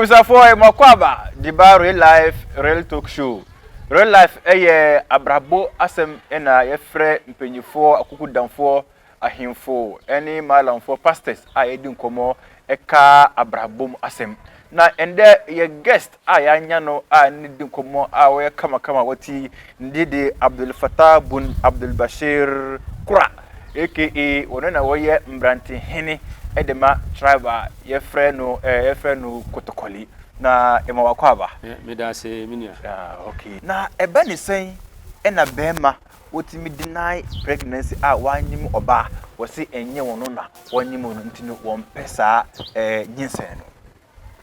abusuafoɔ eh, mɔkɔ aba diba real life real talk show real life ɛyɛ eh, abrabɔ asɛm ɛna eh, yɛfrɛ mpanyinfoɔ akokudamfoɔ Ahemfo ne Maalamfoɔ pastors a yɛdi nkɔmmɔ ka abrabɔ mu asɛm. Na ɛndɛ yɛ guest a yɛanya no a ne di nkɔmmɔ a ɔyɛ kamakama wati ne din de Abdul Fattah Bun Abdul Bashir Kura aka ɔno na ɔyɛ mmerante hene de ma tribe a yɛfrɛ no yɛfrɛ no Kotokoli. Na yɛma wakɔ aba. Medase me nua. Ah okay. Na ɛba ne sɛn na bɛɛma wotumi deny pregnancy a wɔanyi mu ɔba a, wɔse ɛnyɛ wɔn no na wɔanyi mu no nti no wɔmpɛ saa ɛɛ nyinsɛn no.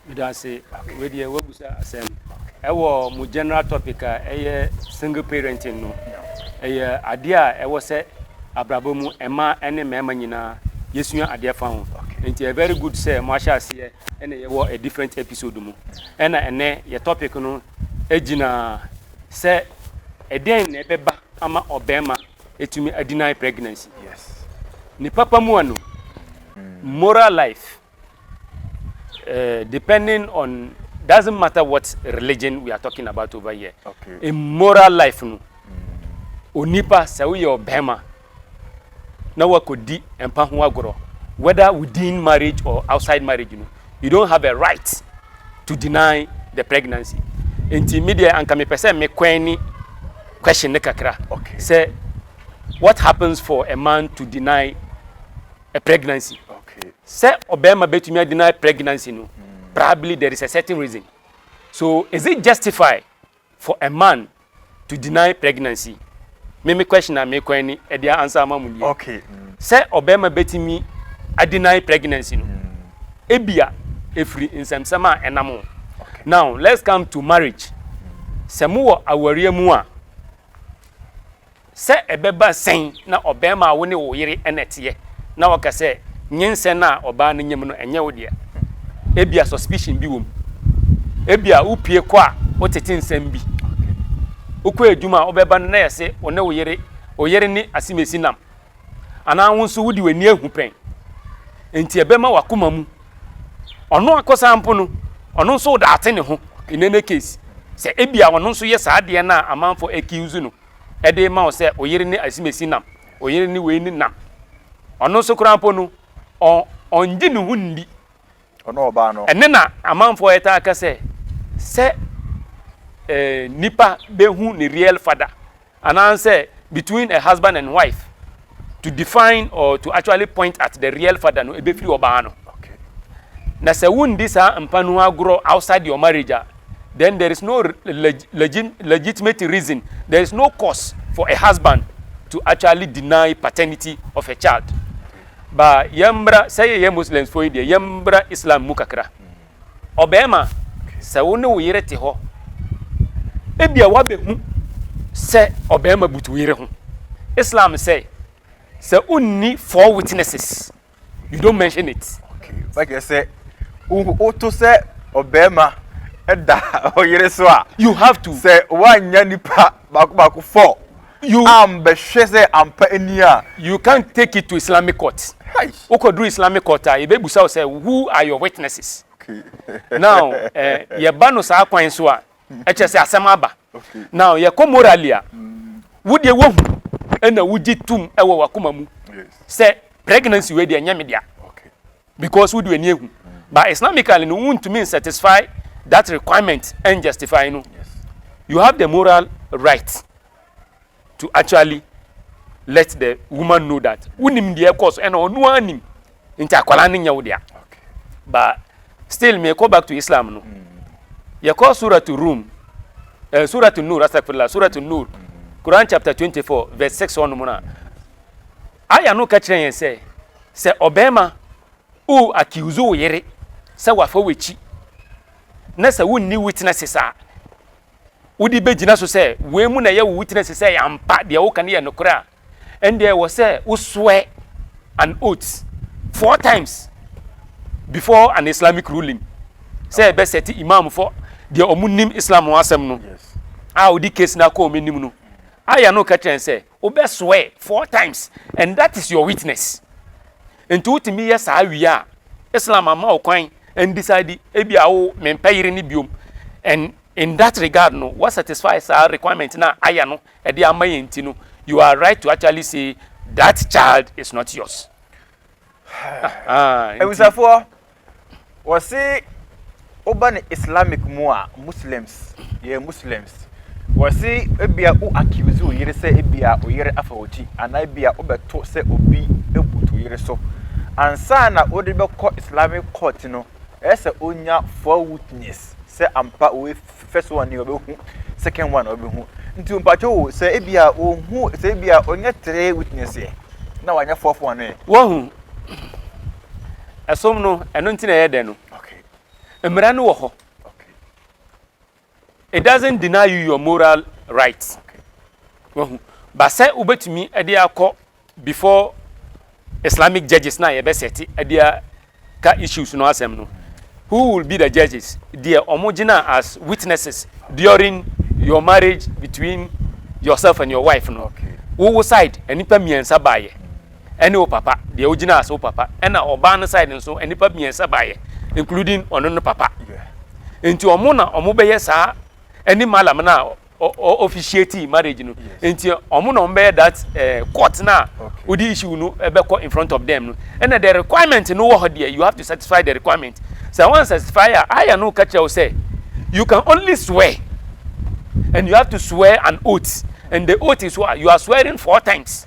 Meda ase. Wei deɛ woabusa asɛm. Ɛwɔ mo general topic a ɛyɛ single parenting no, ɛyɛ adeɛ a ɛwɔ sɛ abrabɔ mu mmaa ne mmarima nyinaa yɛsua adeɛ fa ho. Nti ɛyɛ very good sɛ moahyɛ aseɛ ɛna yɛwɔ a different episode mu. Ɛna ɛnɛ yɛ topic no gyina sɛ ɛdɛn na ɛbɛba ama ɔbarima atumi a deny pregnancy. Ne papa mu a no, moral life, uh, depending on, doesn't matter what religion we are talking about over here. Okay. A moral life no, mm. onipa sɛ woyɛ ɔbarima na woakɔdi mpa ho agorɔ whether within marriage or outside marriage no, you don't have a right to deny the pregnancy. Nti me deɛ anka mepɛ sɛ me kɔɛni question no kakra okay. sɛ what happens for a man to deny a pregnancy okay. sɛ ɔbɛrima bɛtumi a deny pregnancy no mm. probably there is a certain reason so is it justified For a man to deny pregnancy me me question a me kɔn ni ɛdeɛ ansa ama mo nie. Okay. Sɛ ɔbɛɛma bɛtumi a deny pregnancy no ebia ɛfiri nsɛmsɛm a ɛnam ho. Now let's come to marriage sɛ mo wɔ awareɛ mu a. Sɛ ɛbɛba sɛn na ɔbarima a wo ne wo yere na ɛteɛ na woaka sɛ nyinsɛn a ɔbaa no nyam no ɛnyɛ wo dea? Ebia suspicion bi wom. Ebia wopue kɔ a wotete nsɛm bi. Wokɔ adwuma a wobɛba no na yɛ se wo ne wo yere, wo yere ne asimesi nam. Anaa wo nso wode w'ani ahu pɛn. Enti ɛbɛma w'akoma mu. Ɔno ankasa mpo no, ɔno nso wodaate ne ho in any case sɛ ebia ɔno nso yɛ saa adeɛ no a amanfoɔ accuse no. de rema wo sɛ oyere ne asimasi nam, oyere ne wei ne nam. Ɔno nso koraa mpo no, ɔngye ne ho nni. Ɔno ɔbaa no. Ɛne na amanfoɔ ɛtaa ka sɛ, sɛ nipa bɛhu ne real father, anaasɛ between a husband and wife, to define or to actually point at the real father no ebefiri ɔbaa no okay na sɛ wondi saa mpa no agorɔ outside your marriage a then there is no leg legit legitimate reason there is no cause for a husband to actually deny paternity of a child ba yɛmmra sɛ yɛyɛ muslims fo yi deɛ yɛmmra islam mu kakra Ɔbarima, sɛ wo ne wo yere te hɔ, ebia woabɛhu sɛ ɔbarima butu wo yere ho. Islam sɛ, sɛ wonni four witnesses, you don't mention it. Bɛkyerɛ sɛ woto sɛ ɔbarima da ɔyere so a. You have to. Sɛ woannya nipa baako baako four. You am bɛ hwɛ sɛ ampa ɛni a. You can't take it to Islamic court. Hai. Wo kɔ duru Islamic court a, yɛ bɛ busa wo sɛ, who are your witnesses? Okay. Now, eh, yɛ ba no saa kwan so a, ɛkyerɛ sɛ asɛm aba. Okay. Now, yɛ kɔ morally a, wo deɛ wo hu ɛna wo gye tum ɛwɔ w'akoma mu. Yes. Sɛ pregnancy wei deɛ ɛnyɛ me dea. Because wode w'ani ahu. But Islamically no, wontumi nsatisfy that requirement and justify no. You have the moral right to actually let the woman know that wonim deɛ ɛkɔ so ɛna ɔno ara nim nti akwadaa no nyɛ wo dea but still me kɔ back to islam no mm. yɛkɔ suratu room uh, eh, suratu nur astagfirullah suratu nur mm. quran chapter 24 verse 6 ɔnom no a Aya no ka kyerɛ yɛn sɛ, sɛ ɔbarima o accuse wo yere sɛ wafa w'akyi na sɛ wonni witnesses a wode bɛgyina so sɛ wei mu na ɛyɛ wo witness sɛ ɛyɛ ampa deɛ woka no yɛ nokorɛ a, ɛndeɛ ɛwɔ sɛ wo swear an oath four times before an Islamic ruling sɛ ɛbɛsɛte imam fɔ deɛ ɔmo nim Islam ho asɛm no a ɔde case no akɔ ɔmo anim no. Aya no ka kyerɛ yɛn sɛ. Wobɛsoɛɛ four times and that is your witness. Nti wotumi yɛ saa wie a, Islam ama wo kwan and decide ebi a wo mempɛ yere no biom and in that regard no wa satisfy saa requirement no a Ayah no de ama yɛn nti no you are right to actually say that child is not yours. Abusuafoɔ, wɔse woba no Islamic mu a Muslims yɛ Muslims wɔse ebia wo accuse wo yere sɛ ebia wo yere afa wo ti anaa ebia wobɛto sɛ obi butu wo yere so ansa na wode bɛkɔ Islamic court no ɛyɛ sɛ onya four witness sɛ ampa wo first one ni ɔbɛhu second one ɔbɛhu nti mpakyɛ wo sɛ ebia ohu sɛ ebia ɔnyɛ three witness yɛ na wanyɛ fourth one yɛ. Wahu. Ɛsom no, ɛno nti na ɛyɛ dɛ no. Mmara no wɔ hɔ. It doesn't deny you your moral rights. Wahu. Ba sɛ wobɛtumi de akɔ before Islamic judges na yɛbɛsɛte de ka issues no asɛm no. Who will be the judges? Deɛ wɔn gyina as witnesses during your marriage between yourself and your wife no. Wowo side, nnipa mmiɛnsa baayɛ. ɛne wo papa deɛ wogyinaa so wo papa ɛna ɔbaa no side nso nnipa mmiɛnsa baeɛ including ɔno no papa nti ɔmo na ɔmo bɛyɛ saa ɛne malam no a officiate marriage no nti ɔmo na ɔmo bɛyɛ that eh, court no a wode issue no ɛbɛkɔ in front of them no ɛna the requirement no wɔ hɔ deɛ you have to satisfy the requirement sɛ wɔn satisfy a aya no ka kyerɛ wo sɛ you can only swear and you have to swear an oath and the oath is what you are swearing four times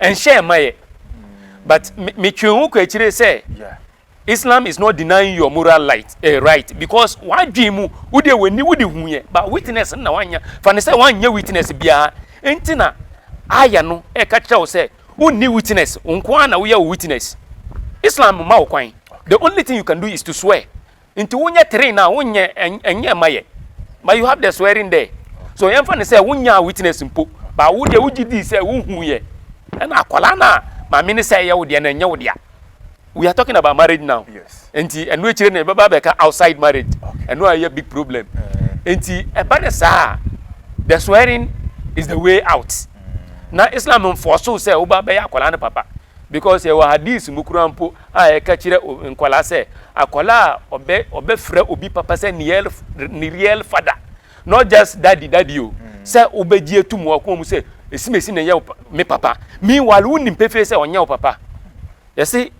Ɛnhyɛɛ ma yɛ. But me me twe ho kɔ akyire sɛ Islam is not denying your moral light, eh, right because w'adwene mu wo deɛ w'ani wo de hu yɛ but witness no na wanya fa no sɛ wanyɛ witness biara nti na aya no ɛka kyerɛ wo sɛ wonni witness wo nko ara na woyɛ wo witness. Islam mma wo kwan. The only thing you can do is to swear Nti wonyɛ train na wonyɛ ɛnyɛ ɛma yɛ but you have the swearing there so yɛmfa ne sɛ wonyaa witness mpo ba wo deɛ wogye dii sɛ wohu yɛ ɛna akwadaa no a maame ne sɛ ɛyɛ wo deɛ na ɛnyɛ wo dea we are talking about marriage now nti ɛno akyire no ɛbɛba bɛka outside marriage ɛno a ɛyɛ big problem nti ɛba ne saa the swearing is the way out na Islam mfoɔ so sɛ woba bɛyɛ akwadaa no papa Because yɛwɔ Hadith mu koraa mpo a ɛka kyerɛ nkwadaa sɛ, akwadaa a ɔbɛ ɔbɛfrɛ obi papa sɛ ne real ne real father, not just daddy daddy o, sɛ wobɛgye atum wɔ akoma mu sɛ esimesi na ɛyɛ wo me papa, meanwhile wonim pefee sɛ ɔnyɛ wo papa. Yɛse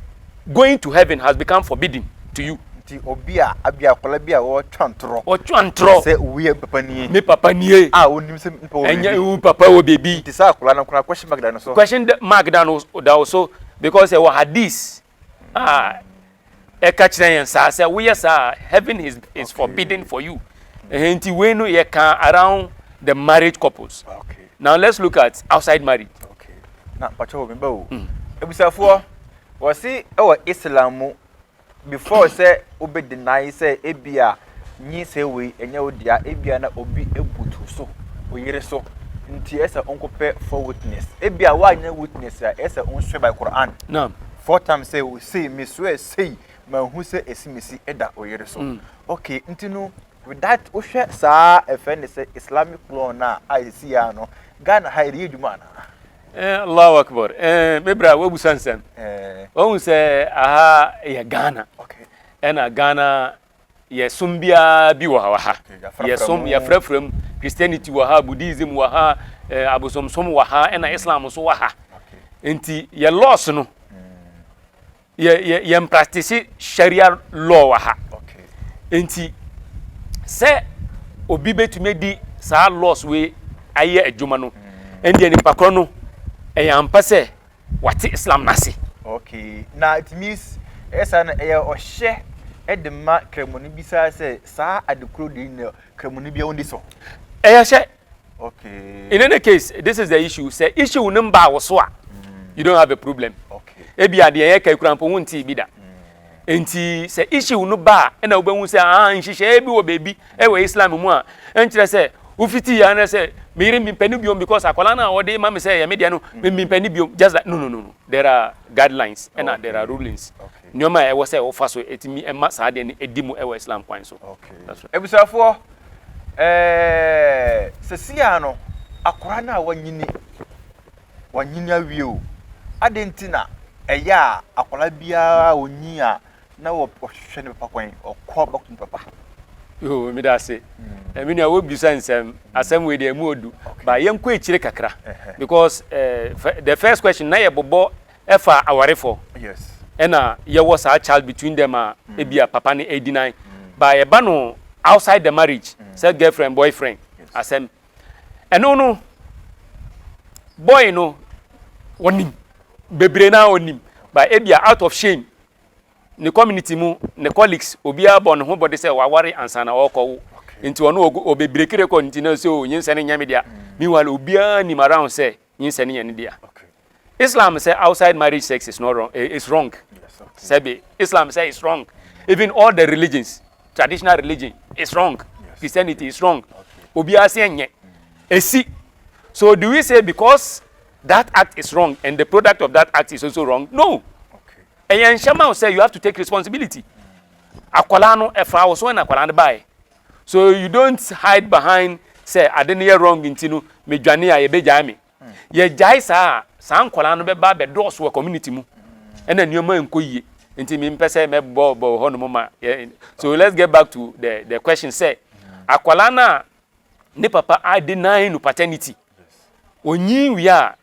going to heaven has become forbidden. to you. Nti obi a abi akwadaa bi a ɔretwa ntorɔ. Ɔtwa ntorɔ. Sɛ wei yɛ me papa nie. Me papa nie. A onim sɛ me papa wɔ baabi. Ɛnyɛ wo papa wɔ baabi. Nti saa akwadaa no koraa question mark da ne so. Question mark da no da wo so because ɛwɔ hadith a ɛka kyerɛ yɛn saa sɛ woyɛ saa heaven is is okay. forbidden for you. Okay. Nti wei no yɛ kan around the marriage couples. Okay. Now let's look at outside marriage. Okay. Na mpatsɔ wɔ mi ba o. Ebusafoɔ wɔsi ɛwɔ Islam mu before sɛ wobɛ deny sɛ ebia nyinsɛn wei ɛnyɛ wo dea, ebia na obi abutu so, oyere so, nti ɛsɛ wonkɔpɛ four witness. Ebia woanyɛ witness a ɛsɛ wonswear by Quran. Naam. Four times sɛ osei, me swear sei, manhu sɛ esimesi da oyere so. Mm. Okay, nti no with that wohwɛ saa ɛfɛ ne sɛ Islamic law no a a ɛsi yɛ ano, Ghana ha ɛde yɛ adwuma anaa? Eh Allahu Akbar eh me bra wabusa nsɛm wahu sɛ aha yɛ Ghana ɛna Ghana yɛsom biara bi wɔ ha yɛsom yɛfrɛfrɛ mu Christianity wɔ ha Buddhism wɔ ha eh, abosomsom wɔ ha ɛna Islam nso wɔ ha nti yɛ laws no yɛ yɛ yɛn practice sharia law wɔ ha nti sɛ obi betumi adi saa laws wei ayɛ adwuma no mm. ɛndeɛ nipa korɔ no ɛyɛ ampa sɛ wate islam no ase okay na it means ɛsa no ɛyɛ ɔhyɛ ɛde ma kramoni bi saa sɛ saa adekoro de na kramoni bi ɛwɔ de so ɛyɛ hyɛ Okay. In any case, this is the issue. Sɛ issue no mbaa wo so a, mm. you don't have a problem. Okay. Ebi adeɛ yɛ ka ekura mpo ho nti bi da. Mm. Nti sɛ issue no ba a ɛna wobɛhu sɛ ah nhyehyɛeɛ bi wɔ baabi ɛwɔ Islam mu a ɛnkyerɛ sɛ wofiti yɛ anɛ sɛ meyere mempɛ no biom because akwadaa no a ɔde ma me sɛ ɛyɛ me deɛ no mm. mempɛ no biom just like no no no no there are guidelines ɛna okay. there are rulings nneɛma a ɛwɔ sɛ wofa so ɛtumi ɛma saa deɛ no ɛdi mu ɛwɔ Islam kwan so. Okay. That's right. Abusuafoɔ. Ɛɛ, seesei ara no, akwadaa no a wanyini, wanyini awie o, adɛn nti na ɛyɛ a akwadaa biara a onyin a na wɔhwehwɛ ne papa kwan, ɔkɔ bɛko ne papa? Yoo, meda ase. Hmm. Me nua, wobisa nsɛm. Asɛm wei deɛ ɛmu ɔdu. Ba yɛnkɔ akyire kakra. Because eh, the first question, na yɛbobɔ ɛfa awarefɔ ɛna yɛwɔ saa child between them a ebia papa no ɛdeny but ɛba no outside the marriage sɛ girlfriend boyfriend asɛm ɛno no boy no ɔnim bebree naa ɔnim but ebia out of shame ne community mu ne colleagues obiara bɔ ne ho bɔde sɛ waware ansa na ɔrekɔwo nti ɔno ɔbɛbireki record nti na sɛ o nyinsɛ no nyɛ me dea meanwhile obiara nim around sɛ Nyinsɛn no yɛ ne dea. Islam sɛ outside marriage sex is not wrong, eh, is wrong. Sɛbe, Islam sɛ is wrong. Even all the religions, traditional religion is wrong. Christianity is wrong. Obiara sɛ ɛnyɛ. Esi. So do we say because that act is wrong and the product of that act is also wrong? No. Ɛyɛ nhyɛma wo sɛ you have to take responsibility. Akwadaa no ɛfa wo so ɛna akwadaa no baeɛ. so you don't hide behind sɛ ade no yɛ wrong nti no medwane a yɛbɛgyae me hmm. yɛgyae saa a saa nkwadaa no bɛba bɛdɔɔso wɔ community mu ɛna nneɛma nkɔ yie nti mempɛ sɛ mɛbɔ bɔ hɔ nom ma so let's get back to the the question sɛ akwadaa no a ne papa a deny no paternity onyin wie a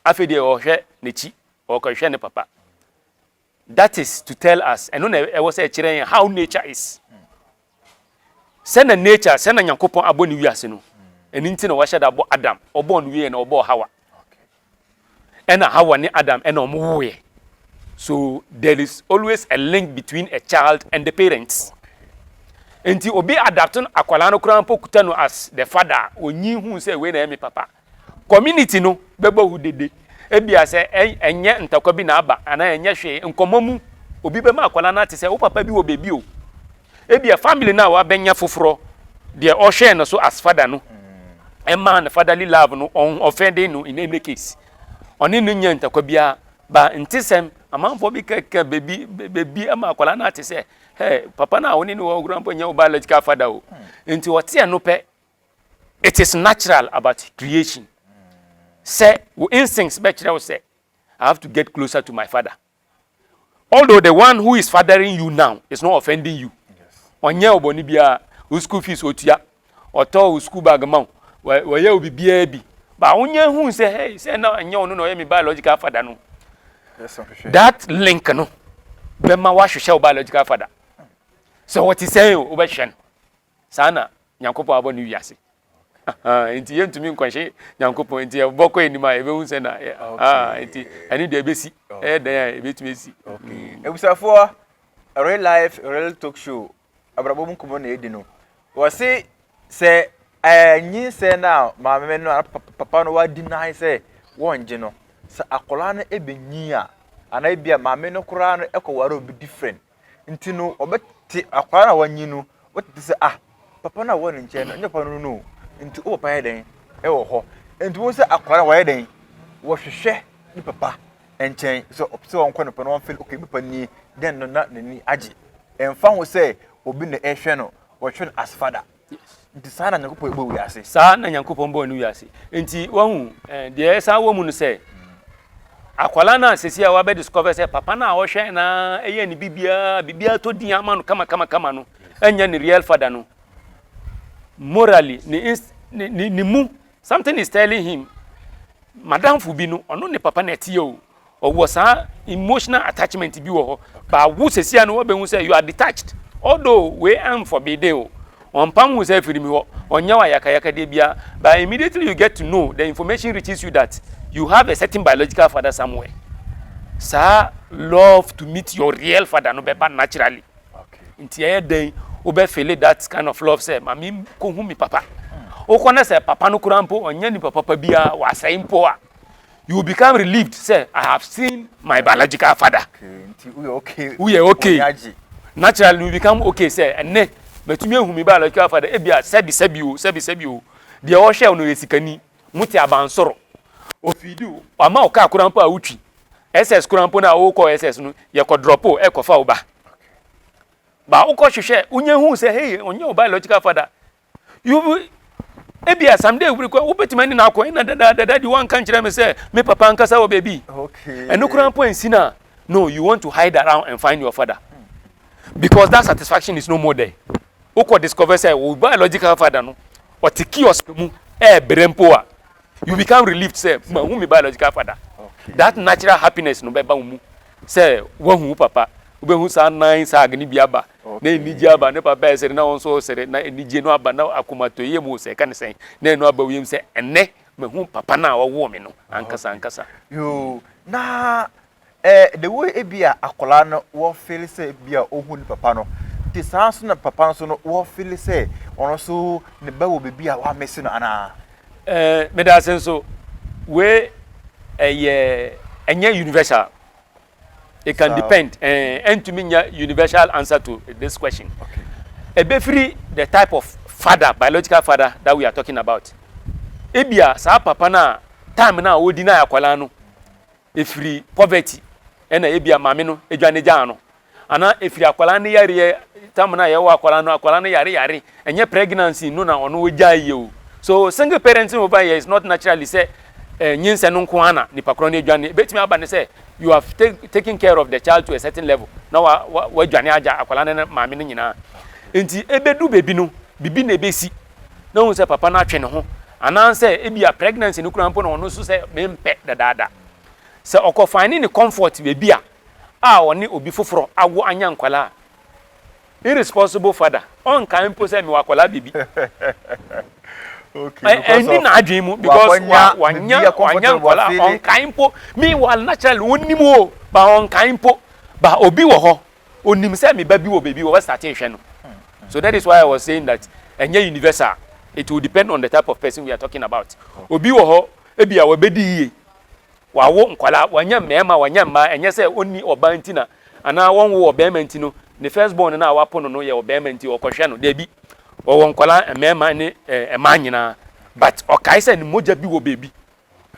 afei deɛ ɔhwɛ n'akyi ɔkɔhwɛ ne papa That is to tell us, ɛno na ɛwɔ sɛ ɛkyerɛ yɛn how nature is. Sɛ na nature, sɛ na Nyankopɔn abɔ ne wiase no. Ɛno nti na wahyɛ da bɔ Adam. Ɔbɔɔ no wieɛ na ɔbɔɔ Hawa. Ɛna Hawa ne Adam ɛna wɔn wowoeɛ. So there is always a link between a child and the parents. Nti obi adapto akwadaa no koraa mpo kuta no as the father a, ɔnyin hu sɛ wei na ɛyɛ me papa. Community no bɛbɔ wo dede. Ebia sɛ ɛnyɛ ntɔkwa bi na aba anaa ɛnyɛ hwee, nkɔmmɔ mu, obi bɛma akwadaa no ate sɛ, wo papa bi wɔ baabi o. Ebia family no a wabɛnya foforɔ, deɛ ɔhwɛɛ no so as father no, ɛmaa no fatherly love no, ɔho ɔfɛ de no in any case. Ɔne no nyɛɛ ntɔkwa biara. Ba ntesɛm, amanfoɔ bi kɛkɛ baabi baabi ma akwadaa no ate sɛ, hɛ, papa no a wo ne no wɔ hɔ koraa mpo nyɛ wo biological father o. Nti ɔte ɛno pɛ, It is natural about creation sɛ wo instincts bɛkyerɛ wo sɛ I have to get closer to my father although the one who is fathering you now is not offending you ɔnyɛ ɔbɔne biara wo school fees otua ɔtɔ wo school bag ma wo wɔyɛ wo biribiara bi ba wonya hu sɛ hey sɛ na ɛnyɛ ɔno na ɔyɛ me biological father no that link no bɛma woahwehwɛ wo biological father sɛ wɔte sɛn o wobɛhwɛ no Saa na Nyankopɔn abɔ ne wiase. Ahaa, enti yɛntumi nkɔnhye Nyankopɔn, enti yɛbɔ kɔ anim a yɛbɛhu sɛ na, yɛ, ahaa, enti ɛne deɛ ɛbɛsi, ɛyɛ dɛn a ɛbɛtumi asi. Mm. Abusafoɔ, Real Life Real Talk Show, abrabɔ mu nkɔmmɔ na yɛdi no. Wɔse sɛ ɛɛ nyinsɛn no a maame no anaa papa no wa deny sɛ wɔngye no, sɛ akwadaa no ɛbɛnyin a, anaa ebia maame no koraa no ɛkɔware obi different, Nti no wɔbɛte akwadaa no a wanyin no, wɔbɛte sɛ ah papa no a ɔwɔ ne nkyɛn no, ɛnyɛ papa no no. Nti wo papa yɛ dɛn wɔ hɔ? Nti wɔn sɛ akwadaa wɔyɛ dɛn? Wɔhwehwɛ ne papa nkyɛn sɛ ɔpɛ sɛ wɔnkɔ ne papa no wɔmfɛn okay me papa nie dɛn no na n'ani agye. Ɛmfa ho sɛ obi na ɛhwɛ no, wɔhwɛ no as father. Nti saa na Nyankopɔn bɔɔ wiase. Saa na Nyankopɔn bɔɔ ne wiase. Nti wahu, eh, deɛ ɛsan wɔ mu no sɛ, akwadaa no a sɛsi a wabɛ discover sɛ papa no a ɔhwɛ na ɛyɛ ne biribiara, biribiara tɔ din ama no kama kama kama no, ɛnyɛ ne real father no. Morally, ne, ne, ne, ne mu, something is telling him, madamfo bi no, ɔno ne papa na ɛteɛ o. ɔwɔ saa emotional attachment bi wɔ hɔ ba wo sɛsia no wɔbɛhu sɛ you are detached although wei amforbidden o ɔmpam wo sɛ afiri mi hɔ ɔnyɛ wo ayakayakadeɛ biara but immediately you get to know the information reaches you that you have a certain biological father somewhere saa love to meet your real father no bɛba naturally nti ɛyɛ dɛn wobɛfele that kind of love sɛ ma menkɔhu me papa wokɔ na sɛ papa no koraa mpo ɔnyɛ nipa papa biara wɔasɛe mpo a you will become relieved sɛ i have seen my biological father woyɛ okay naturally you become okay sɛ ɛnɛ matumi ahu me biological father ebi a sɛbi sɛbi o sɛbi sɛbi o deɛ ɔhwɛ o no yɛ sikani mo te abansoro ofidi o ama o kaa koraa mpo a wotwi ss koraa mpo no a wokɔ ss no yɛkɔ drop o ɛkɔfa wo ba ba wokɔ hwehwɛ wonyɛ hu sɛ hei ɔnyɛ wo biological father You will ebia someday wobere kɔ wobɛtumi ani na akɔ ɛna dadaadada de wanka nkyerɛ me sɛ me papa ankasa wɔ baabi ɛno koraa mpo ansi no a no you want to hide around and find your father because that satisfaction is no more there wokɔ discover sɛ wo biological father no ɔte kiosk mu ɛɛbrɛ mpo a you become relieved sɛ mahu me biological father that natural happiness no bɛba wo mu sɛ woahu wo papa wobɛhu saa nan saag no bi aba na anigye aba ne papa ɛsere na wo nso wosere na anigye no aba na akomatɔyɛ mu sɛ ɛka ne sɛn na ɛno aba wiem sɛ ɛnɛ mahu papa no a ɔwoo me no ankasa ankasa yoo na Ɛɛ, the way ebia akwadaa no wɔ feeli sɛ ebia ohu ne papa no, nti saa ara nso na papa no nso no wɔ feeli sɛ ɔno nso ne ba wɔ biribi a wɔamese no anaa? Ɛɛ, meda ase nso. Wei yɛ, ɛnyɛ universal. It can depend, ɛɛ, ɛntumi nyɛ universal answer to this question. Ɛbɛfiri the type of father, biological father that we are talking about. Ebia saa papa no a time no a ɔdi no a akwadaa no, ɛfiri poverty ɛna ebia maame no adwane gyaa no anaa ɛfiri akwadaa no yareɛ tam no a yɛwɔ akwadaa no akwadaa no yare yare ɛnyɛ pregnancy no na ɔno gyaa yie o so single parenting over here is not naturally sɛ eh, nyinsɛ no nko ara na nipa korɔ no adwane ebetumi aba ne sɛ you have take, taken care of the child to a certain level na wa wa wadwane agya akwadaa no ne maame no nyinaa nti ebedu beebi no bibi na ebesi na ohu sɛ papa no atwe ne ho anaasɛ ebia pregnancy no kura mpo na ɔno nso sɛ mempɛ dadaada. Sɛ ɔkɔ finding ne comfort baabi a a ɔne obi foforɔ awo anya nkwadaa a, irresponsible father, ɔnkae mpo sɛ mewɔ akwadaa baabi. okay, because ɛndi n'adwene mu because wanya wanya nkwadaa ɔnkae mpo. Meanwhile naturally ɔnim o ba ɔnkae mpo ba obi wɔ hɔ Onim sɛ me ba bi wɔ baabi wɔ startee hwɛ no so that is why I was saying that ɛnyɛ universal it will depend on the type of person we are talking about obi wɔ hɔ ebia wabɛdi yie wawo nkwadaa wanya mmarima wanya mmaa ɛnyɛ sɛ ɔnni ɔbaa nti na anaa wɔnwo ɔbarima nti no ne first born no a wapo no no yɛ ɔbarima nti ɔkɔhwɛ no daabi wɔwɔ nkwadaa mmarima ne mmaa nyinaa but ɔkae sɛ ne mogya bi wɔ baabi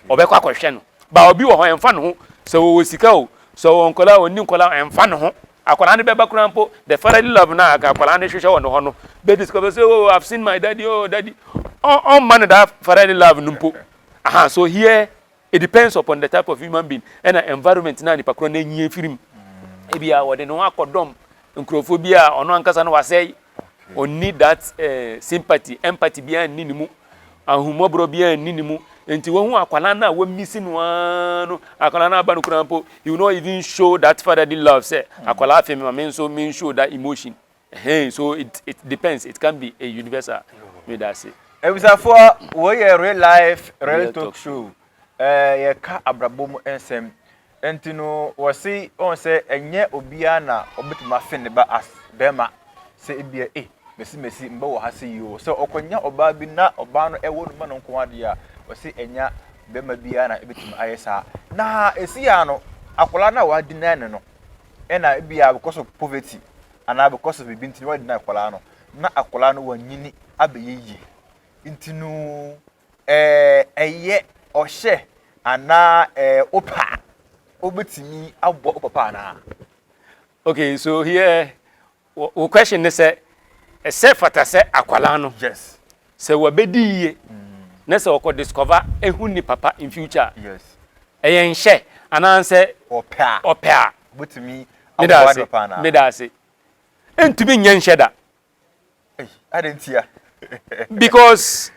Ɔbɛkɔ akɔhwɛ no. Ba obi wɔ hɔ, ɛmfa ne ho sɛ ɔwɔ sika o, sɛ ɔwɔ nkwadaa o, ɔnni nkwadaa o, ɛmfa ne ho. Akwadaa no bɛba koraa mpo, the fatherly love no a anka akwadaa no hwehwɛ wɔ ne hɔ no bɛdi sika. Ɔbɛbisa, oh, I've seen my daddy, oh, daddy. Ɔmma no that fatherly love no mpo. Aha, so here it depends upon the type of human being ɛna environment no a nipa korɔ no anyin afiri mu. Ebia ɔde ne ho akɔdɔm nkurɔfoɔ bi a ɔno ankasa no wasɛe ɔnni that eh, sympathy empathy biara nni ne mu ahummɔborɔ biara nni ne mu nti wahu akwadaa no a wamisi no ara no akwadaa no aba no koraa mpo he will not even show that fatherly love sɛ hmm. akwadaa afei mema me nso me show that emotion hey, so it, it depends it can be a universal me da ase abusafoɔ wɔyɛ real life real talk show eh, yɛka abrabɔ mu nsɛm Nti no wɔse wɔn sɛ ɛnyɛ obiara na ɔbɛtumi afe ne ba as bɛrima sɛ ebia ei mesi mesi mba wɔ ha sɛ yi o sɛ ɔkɔnya ɔbaa bi na ɔbaa no ɛwɔ no ma no nko adeɛ a wɔse ɛnya bɛrima biara na ɛbɛtumi ayɛ saa na ɛsi ya no akwadaa no a wɔadinaa ne no ɛna ebia because of poverty anaa because of biribi nti na wɔadinaa akwadaa no na akwadaa no wɔnyini abɛyɛ yie nti no ɛyɛ ɔhyɛ anaa ɛyɛ wopɛ a, wobɛtumi aboa wo papa anaa? Okay, so here, wo question ne sɛ, ɛsɛ fata sɛ akwadaa no, yes. sɛ wabɛdi yie mm. na sɛ ɔkɔ discover ehu ne papa in future yes. ɛyɛ nhyɛ anaasɛ ɔpɛ a ɔpɛ a wobɛtumi aboa ne papa anaa? Meda ase. Ntumi nyɛ nhyɛ da. Because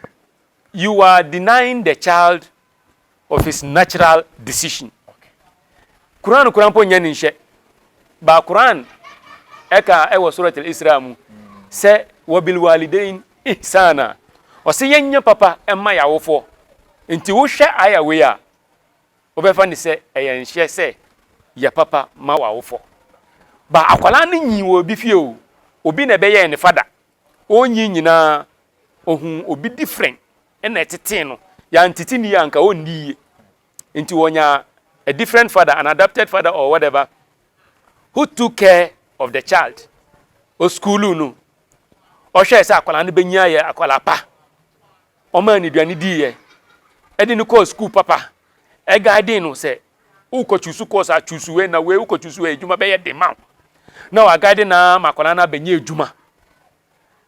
you are denying the child of his natural decision. Quran kura mpo nyɛ ne nhyɛ. Ba Quran ɛka ɛwɔ Surat al-Isra mu sɛ wabil walidain ihsana. Ɔsɛ yɛnyɛ papa ɛma yɛawofoɔ. Nti wohwɛ ayɛ wei a Wobɛfa no sɛ ɛyɛ nhyɛ sɛ yɛ papa ma w'awofɔ. Ba akwadaa no nyii wɔ obi fie o, obi na ɛbɛyɛɛ ne fada. Ɔnyi nyinaa, ɔhuu obi different na ɛtetee no. Yɛantete no yie a, anka ɔnni yie. Nti ɔnyaa a different father, an adopted father or whatever, who took care of the child. Ɔsukuuluu no, ɔhwɛɛ sɛ akwadaa no bɛnya ayɛ akwadaa pa. Ɔmaa no aduane diiɛ, ɛde no kɔɔ sukuu papa, ɛguidee no sɛ wokɔ choose course a choose wei na wei wokɔ choose wei adwuma bɛyɛ den ma wo. Na waguide no ara ma akwadaa no abɛnya adwuma.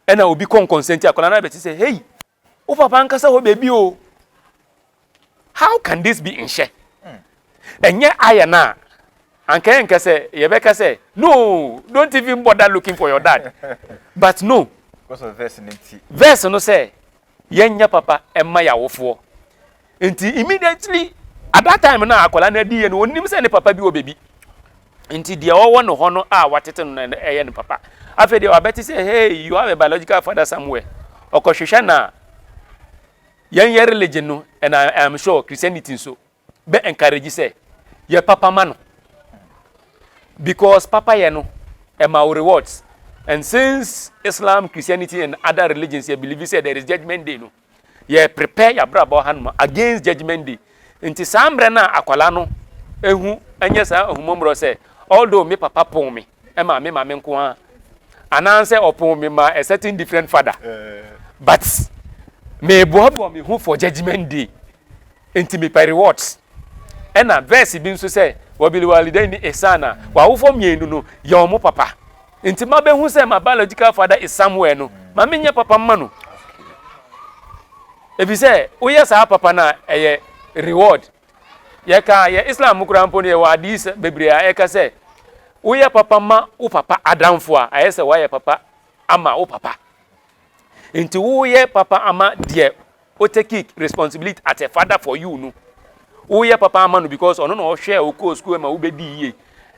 Ɛna obi kɔ nkɔnsɛnti, akwadaa no abɛte sɛ, Hei, wo papa ankasa hɔ baabi o. How can this be nhyɛ? Ɛnyɛ ayɛ no a, anka yɛnka sɛ yɛbɛka sɛ no don't even bother looking for your dad but no verse no sɛ yɛnyɛ papa ɛma yɛ awofoɔ nti immediately at that time na akwadaa no adi yɛ no onim sɛ ne papa bi wɔ baabi nti deɛ ɔwɔ ne hɔ no a watete no na ɛyɛ ne papa afei deɛ wabɛte sɛ hey you have a biological father somewhere ɔkɔhwehwɛ na yɛn yɛ religion no and I, I am sure Christianity nso bɛ encourage sɛ yɛ papa ma no because papa yɛ no ɛma wo rewards and since Islam Christianity and other religions yɛ believe sɛ there is judgment day no yɛ prepare yɛ abrabɔ hanom against judgment day Nti saa mbrɛ no a akwadaa no ehu nyɛ saa ahummɔmborɔ sɛ although me papa pon me maa me maame nko ara anaasɛ ɔpon me maa a certain different father but meboaboa me ho for judgement day nti mepɛ rewards. Ɛna verse bi nso sɛ wabiliwalidaini ihsana, w'awofoɔ mmienu no yɛ wɔn papa. Enti mabehu sɛ my biological father is somewhere no, ma menyɛ papa mma no. Efisɛ woyɛ saa papa no a, ɛyɛ reward. Yɛka yɛ Islam mu koraa mpo no yɛwɔ hadis bebree a ɛka sɛ woyɛ papa ma wo papa adamfo a, ayɛ sɛ woayɛ papa ama wo papa. Enti woyɛ papa ama deɛ Wo take responsibility as a father for you no, wo yɛ papa ama no because ɔno na ɔhwɛɛ wo kɔɔ school ma wo bɛ dii yie,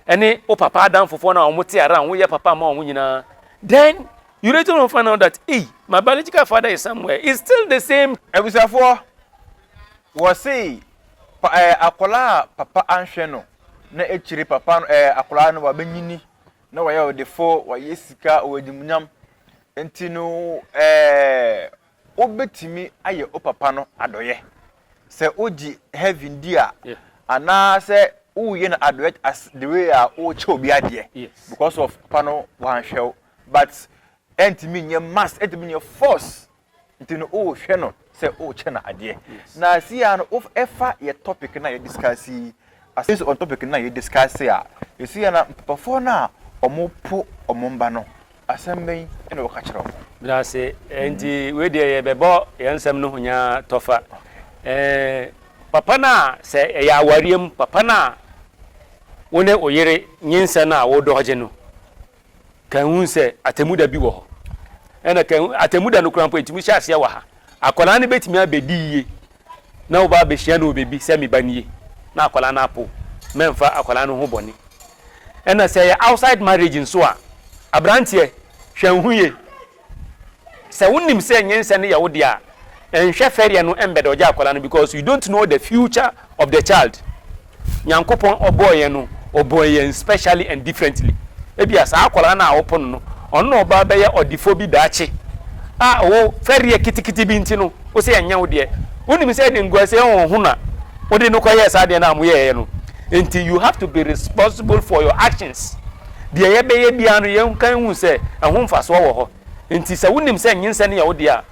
ɛne wo papa adamfofoɔ no a wɔn te around, wo yɛ papa ama wɔn nyinaa, then you later on find out that ei, my biological father is somewhere, is still the same. Abusuafoɔ, wɔ se pa ɛɛ akwadaa a papa anhwɛ no na akyire papa no ɛɛ akwadaa no wabɛ nyini na wayɛ ɔdefoɔ, wayɛ sika, ɔwɔ animuonyam, nti no ɛɛ Wobɛtumi ayɛ wo papa no adɔeɛ sɛ wogye heaven di a anaa sɛ woyɛ no adɔeɛ as the way a wokyɛ obi adeɛ because of papa no wanhwɛ wo but ɛntumi nyɛ must ɛntumi nyɛ force nti no wohwɛ no sɛ wokyɛ no adeɛ na siaa no wofa yɛ topic no a yɛ discuss yi Asɛm si on topic no a yɛ discuss a, ɛsi a na papafoɔ no a wɔn po wɔn mma no, asɛm bɛn na wɔka kyerɛ wɔn? Medase nti wei deɛ yɛ bɛbɔ yɛn nsɛm no ho nyaa tɔfa eh papa no a sɛ ɛyɛ awareɛ mu papa no a wo ne oyere nyinsɛn a wo dɔɔgye no Kan hu sɛ Atemmu Da bi wɔ hɔ. Ɛna kan hu Atemmu Da no koraa mpo, etumi hyɛ aseɛ wɔ ha. Akwadaa no bɛtumi abɛdi yie na woba abɛhyia no wɔ baabi sɛ me ba nie na akwadaa no apo. Mɛmfa akwadaa no ho bɔne. Ɛna sɛ ɛyɛ outside marriage nso a, aberanteɛ, hwɛ hu yie. Sɛ wo nim sɛ nyinsɛn no yɛ wo dea a, nhwɛ fɛreɛ no mbɛda ɔgya akwadaa no because you don't know the future of the child. Nyankopɔn ɔbɔɔ yɛn no, ɔbɔɔ yɛn specially and differently. Ebia saa akwadaa no a wo po no no, ɔno na ɔba abɛyɛ ɔdefo bi daakye a wo fɛreɛ kitikiti bi nti no wo sɛ ɛnyɛ wo deɛ. Wo nim sɛ ɛde nguaseɛ honhon na wo de no kɔ yɛɛ saa adeɛ no a mo yɛɛɛ no. Nti you have to be responsible for your actions. Deɛ yɛbɛyɛ biara no, yɛnka nhu sɛ ɛho mfasoɔ wɔ hɔ. Enti sɛ wonim sɛ nyinsɛn no yɛ wo dea,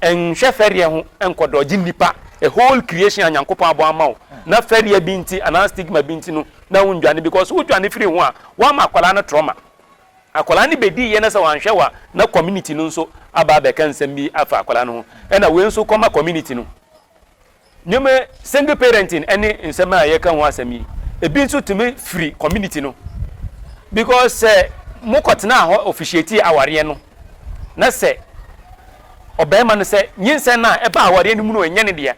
nhwɛ fɛreɛ ho nkɔ dɔgye nnipa, a whole creation a Nyankopɔn abɔ ama wo, na fɛreɛ bi nti anaa stigma bi nti no na wondwane because wodwane firi ho a, woama akwadaa no trauma. Akwadaa no bɛdi yɛ na sɛ wanhwɛ wo a, na community no nso aba abɛka nsɛm bi afa akwadaa no ho, ɛna wei nso kɔma community no. Nneɛma, single parenting ne nsɛm a yɛka ho asɛm yi, ebi nso tumi firi community no because sɛ mokɔtenaa hɔ officiatee awareɛ no na sɛ ɔbarima no sɛ nyinsɛn no a ɛba awareɛ no mu no ɛnyɛ ne deɛ a,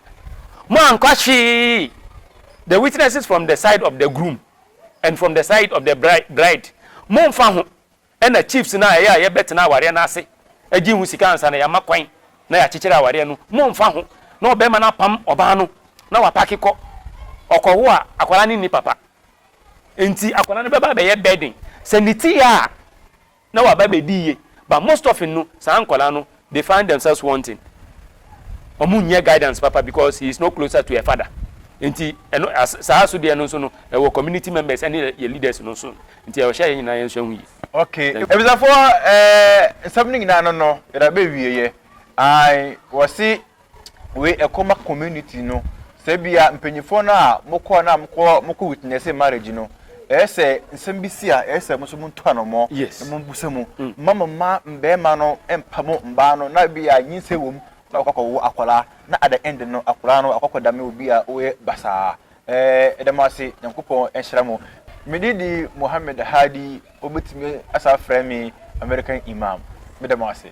moankɔ hwee the witnesses from the side of the groom and from the side of the bride, momfa ho. Ɛna chiefs no a ɛyɛ a yɛbɛtena awareɛ no ase gye ho sika ansa na yɛama kwan na yɛakyekyere awareɛ no, mommfa ho na ɔbarima no apam ɔbaa no na wapake kɔ. Ɔkɔwo a, akwadaa no nni papa. Enti akwadaa no bɛba abɛyɛ burden. Sɛ ne ti yɛ a, na waba abɛdi yie. But most often no, saa nkwadaa no, They find themselves wanting, ɔmo nnya guidance papa because he is no closer to a father nti ɛno saa so deɛ no nso no ɛwɔ community members ɛne yɛ leaders no nso nti ɛwɔ hyɛ yɛn nyinaa yɛn sua ho yie. Okay abisafoɔ ɛɛ nsɛm no nyinaa no no yɛde abɛwie yɛ ae wɔse. wei ɛkɔma community no sɛ bia mpanyinfoɔ no a mokɔ na mokɔ mokɔ witnessing marriage no ɛyɛ sɛ nsɛm bi si a ɛyɛ sɛ mo nso mo nto anɔmɔ na mo busa mu mma mo mma mmarima no mpa mo mmaa no na bia nyinsɛ wɔ mu na wɔkɔ akɔwo akwadaa na at the end no akwadaa no akɔ akɔdame obi a ɔyɛ basaa ɛɛ ɛda mo ase nyankopɔn nhyira mo mede di Mohammed Hadi wɔbɛtumi asa frɛ me American Imam meda mo ase.